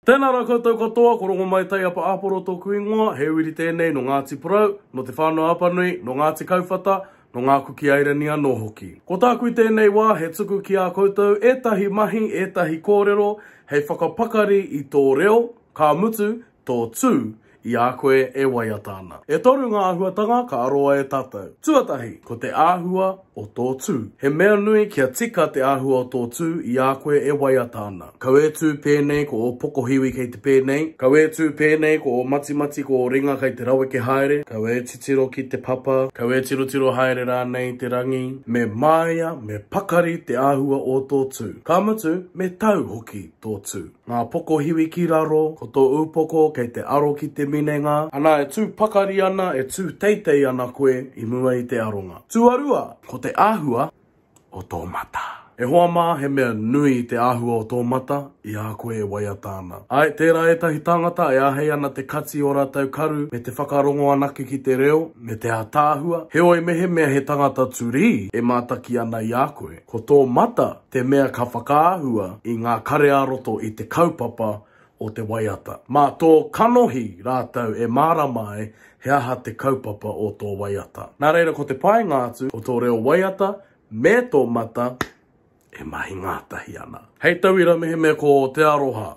Tēnā rā koutou katoa, ko Rongomai Taiapa Aporo tōku ingoa, he uiri tēnei nō Ngāti Porou, nō Te Whānau-a-Apanui, nō Ngāti Kauwhata, nō Ngā Kuki Airani anō hoki. Ko tāku i tēnei wā, he tuku ki ā koutou ētahi mahi, ētahi kōrero hei whakapakari i tō reo, ka mutu, tō tū. i a koe e waiata ana. E toru ngā āhuatanga ka aroa e tātou. Tuatahi, ko te āhua o tō tū. He mea nui kia tika te āhua o tō tū i a koe e waiata ana. Kau e tū pēnei ko ō pokohiwi kei te pēnei, kau e tū pēnei ko ō matimati ko ō ringa kei te raweke haere, kau e titiro ki te papa, kau e tirotiro haere rānei i te rangi, me māia, me pakari te āhua o tō tū. Ka mutu, me tau hoki tō tū. Ngā pokohiwi ki raro, ko tō upoko kei te aro ki te minenga. Ana e tū pakari ana, e tū teitei ana koe i mua i te aronga. Tuarua, ko te āhua o tō mata. E hoa mā, he mea nui te āhua o tō mata i a koe e waiata ana. Āe, tērā ētahi tāngata e āhei ana te kati o rātou karu me te whakarongo anake ki te reo me te ātaahua, heoi mehemea he tangata turī e mātaki ana i a koe, ko tō mata te mea ka whakaahua i ngā kare-ā-roto i te kaupapa o te waiata. Mā tō kanohi rātou e mārama ai he aha te kaupapa o tō waiata. Nā reira ko te painga atu ko tō reo waiata me tō mata e mahi ngātahi ana. Hei tauira mehemea ko te aroha,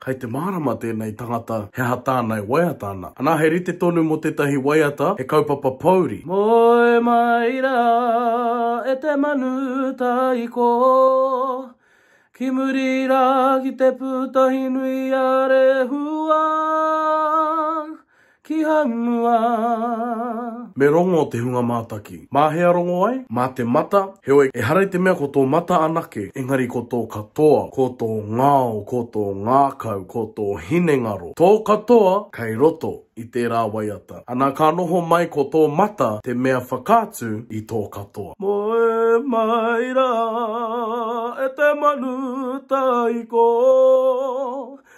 Kai te mārama tēnei tangata he aha tāna e waiata ana. Anā, he rite tonu mō tētahi waiata he kaupapa pōuri. Moe mai rā e te manu taiko Ki muri rā ki te pūtahi nui a Rehua ki hanua. Me rongo te hunga mātaki. Mā hea rongo ai? Mā te mata, heoi, ehara i te mea ko tō mata anake, engari ko tō katoa, ko tō ngao, ko tō ngākau, ko tō hinengaro. Tō katoa, kei roto i tērā waiata. Ana ka noho mai ko tō mata te mea whakaatu i tō katoa. Moe mai rā e te manu taiko.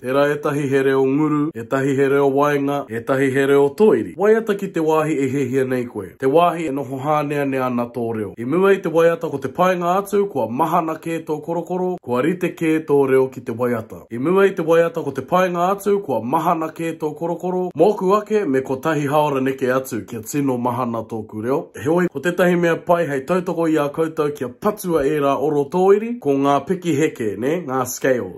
Tērā ētahi he reo nguru, ētahi he reo waenga, ētahi he reo toiri. Waiata ki te wāhi e hiahia nei koe, te wāhi e noho hāneanea ana tō reo. I mua i te waiata ko te painga atu kua mahana kē tō korokoro, kua rite kē tō reo ki te waiata. I mua i te waiata ko te painga atu kua mahana kē tō korokoro, mōku ake me kotahi haora neke atu kia tino mahana tōku reo. Heoi, ko tētahi mea pai hei tautoko i a koutou kia patua ērā oro tōiri, ko ngā piki heke, nē, ngā scales.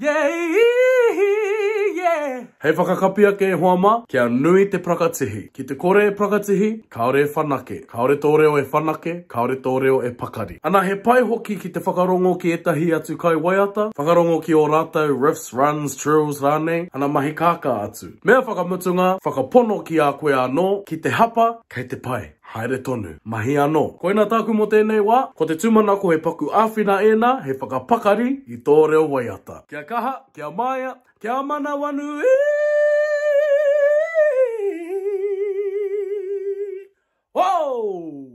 Yeah-ee-hee, yeah. Hei whakakapi ake e hoa mā, kia nui te prakatihi. Ki te kore e prakatihi, kāore e whanake. Kāore tō reo e whanake, kāore tō reo e pakari. Ana he pai hoki ki te whakarongo ki ētahi atu kai waiata, whakarongo ki ō rātou riffs, runs, trills rānei, ana mahi kākā atu. Mea whakamutunga, whakapono ki a koe anō, ki te hapa, kei te pai. Haere tonu. Mahi anō. Koina tāku mō tēnei wā. Ko te tūmanako he paku āwhina ēnā, he whakapakari i tō reo waiata. Kia kaha, kia maea, kia manawanui! Whoo!